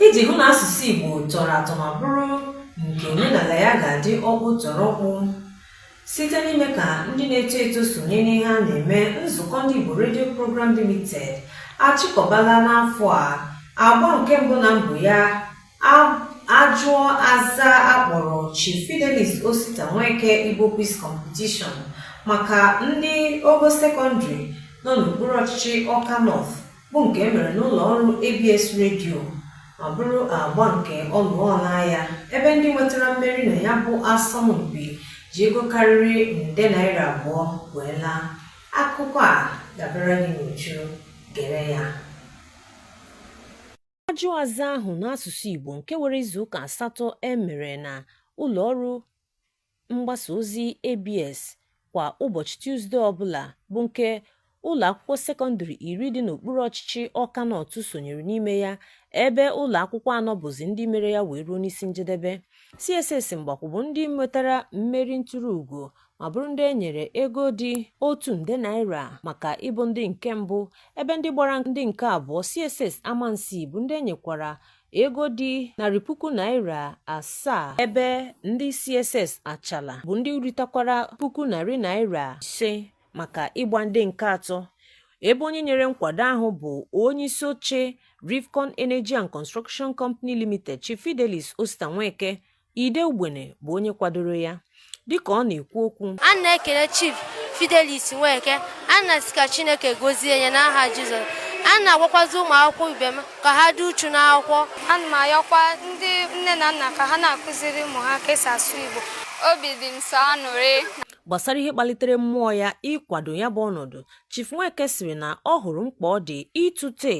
Iji hụ na asụsụ Igbo tọrọ atọ ma bụrụ nke omenala ya ga-adị ọkpụtọrọkpụ site n'ime ka ndị na-eto eto sonye n'ihe a na-eme nzukọ ndị Igbo redio Program Limited achịkọbala n'afọ a agba nke mbụ na mbụ ya ajụọ aza a kpọrọ Chief Fidelis Osita Nweke Igbo Quiz Competition maka ndị ogo sekọndịrị nọ n'okpuru ọchịchị Ọka North bụ nke e mere n'ụlọ ọrụ ABS redio ma bụrụ agba nke ọnụọ ọlaa ya ebe ndị nwetara mmeri na ya bụ asọmpi ji ego karịrị nde naira abụọ wee laa akụkọ a ga-abịara gị n'uju gere ya ajụ aza ahụ n'asụsụ Igbo nke were izuụka asatọ e mere na ụlọọrụ mgbasa ozi ABS kwa ụbọchị Tuzde ọbụla bụ nke ụlọ akwụkwọ sekọndịrị iri dị n'okpuru ọchịchị Ọka Nọt sonyere n'ime ya ebe ụlọ akwụkwọ anọ bụzi ndị mere ya wee ruo n'isi njedebe. CSS Mgbakwu bụ ndị nwetara mmeri nturu ugo ma bụrụ ndị e nyere ego dị otu nde naira maka ịbụ ndị nke mbụ ebe ndị gbara ndị nke abụọ CSS Amansi bụ ndị e nyekwara ego dị narị puku naira asaa ebe ndị CSS Achalla bụ ndị ritakwara puku narị naira ise maka ịgba ndị nke atọ ebe onye nyere nkwado ahụ bụ onye isi oche Rivcon Energy and Construction Company Limited Chief Fidelis Osita Nweke Ide Ugbene bụ onye kwadoro ya dịka ọ na-ekwu okwu ana m ekele Chief Fidelis Nweke ana m asị ka Chineke gozie ya n'aha Jizọs ana m agwakwazi ụmụ akwụkwọ ibe m ka ha dị uchu n'akwụkwọ ana m ayọkwa ndị nne na nna ka ha na-akụziri ụmụ ha ka e si asụ Igbo obi dị m sọ anụrị gbasara ihe kpalitere mmụọ ya ịkwado ya bụ ọnọdụ Chief Nweke sịrị na ọ hụrụ mkpa ọ dị ịtụte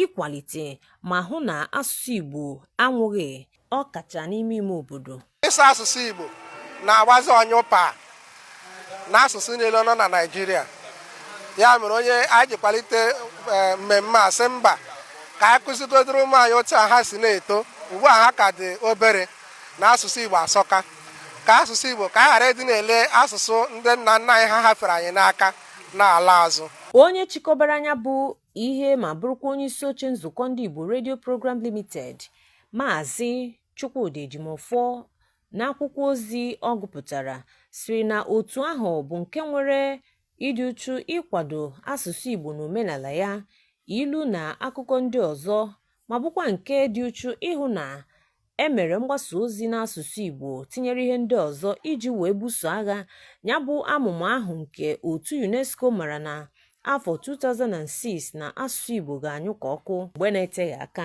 ịkwalite ma hụ na asụsụ Igbo anwụghị ọ kacha n'ime ime obodo ịsụ asụsụ Igbo na-agbazi ọnyụpa n'asụsụ niile nọ na Naịjirịa ya mere onye anyị ji kwalite eh, mmemme a sị mba ka anyị kụzigodiri ụmụ anyị otu a ha si na-eto ugbu a ha ka dị obere na asụsụ Igbo asọka ka asụsụ Igbo ka anyị ghara ịdị na-ele asụsụ ndị nna nna anyị ha hafere anyị n'aka na-ala azụ onye chịkọbara ya bụ ihe ma bụrụkwa onye isi oche nzukọ ndị Igbo redio Program Limited Maazị Chukwudi Ejimofọ n'akwụkwọ ozi ọ gụpụtara sịrị na otu ahụ bụ nke nwere ịdị uchu ịkwado asụsụ Igbo na omenala ya, ilu na akụkọ ndị ọzọ ma bụkwa nke dị uchu ịhụ na E mere mgbasa ozi n'asụsụ Igbo tinyere ihe ndị ọzọ iji wee buso agha nya bụ amụma ahụ nke otu UNESCO mara na afọ 2006 na asụsụ Igbo ga-anyụ ka ọkụ mgbe na-eteghị aka.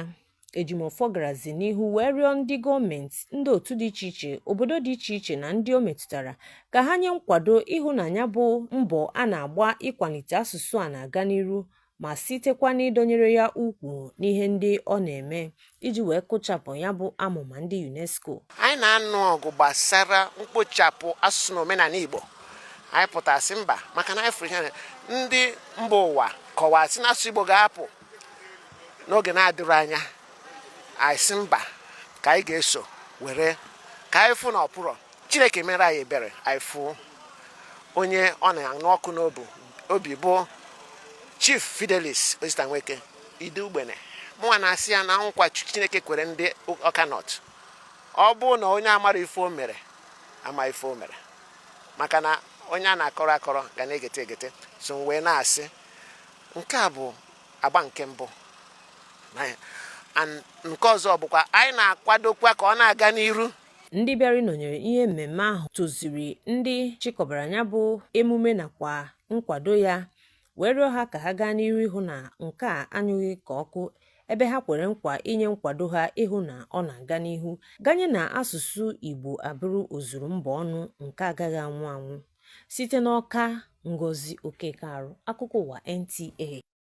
Ejimọfọ garazi n'ihu wee rịọ ndị gọọmenti, ndị otu dị iche iche, obodo dị iche iche na ndị o metụtara ka ha nye nkwado ịhụ na nya bụ mbọ a na-agba ịkwanite asụsụ a na-aga n'iru ma sitekwa n'ịdọnyere ya ukwu n'ihe ndị ọ na-eme iji wee kụchapụ ya bụ amụma ndị UNESCO. Anyị na-anụ ọgụ gbasara mkpochapụ asụsụ na omenanị Igbo anyị pụtasị mba maka na anyị fụrụ na ndị mba ụwa kọwaa sị na asụsụ Igbo ga-apụ n'oge na-adịrọ anya anyị sị mba ka anyị ga-esi were ka anyị fụ na ọ pụrọ chineke mere anyị ebere anyị fụ onye ọ na-anụ ọkụ n'obu obi bụ chief fidelis osita nweke ide ugbene mụnwa na-asị ya na nkwa chineke kwere ndị ọka nọt ọ bụ na onye amara ife o mere ama ife o mere maka na onye a na-akọrọ akọrọ ga na-egete egete so m wee na-asị nke a bụ agba nke mbụ nke ọzọ bụkwa anyị na-akwadokwa ka ọ na-aga n'iru ndị bịara ịnọnyere ihe mmemme ahụ toziri ndị chịkọbara nya bụ emume nakwa nkwado ya wee rịọ ha ka ha gaa n'ihu ịhụ na nke a anyụghị ka ọkụ ebe ha kwere nkwa inye nkwado ha ịhụ na ọ na-aga n'ihu ganye na asụsụ Igbo abụrụ ozuru mba ọnụ nke agaghị anwụ anwụ site n'Ọka Ngozi Okekearụ akụkọ ụwa NTA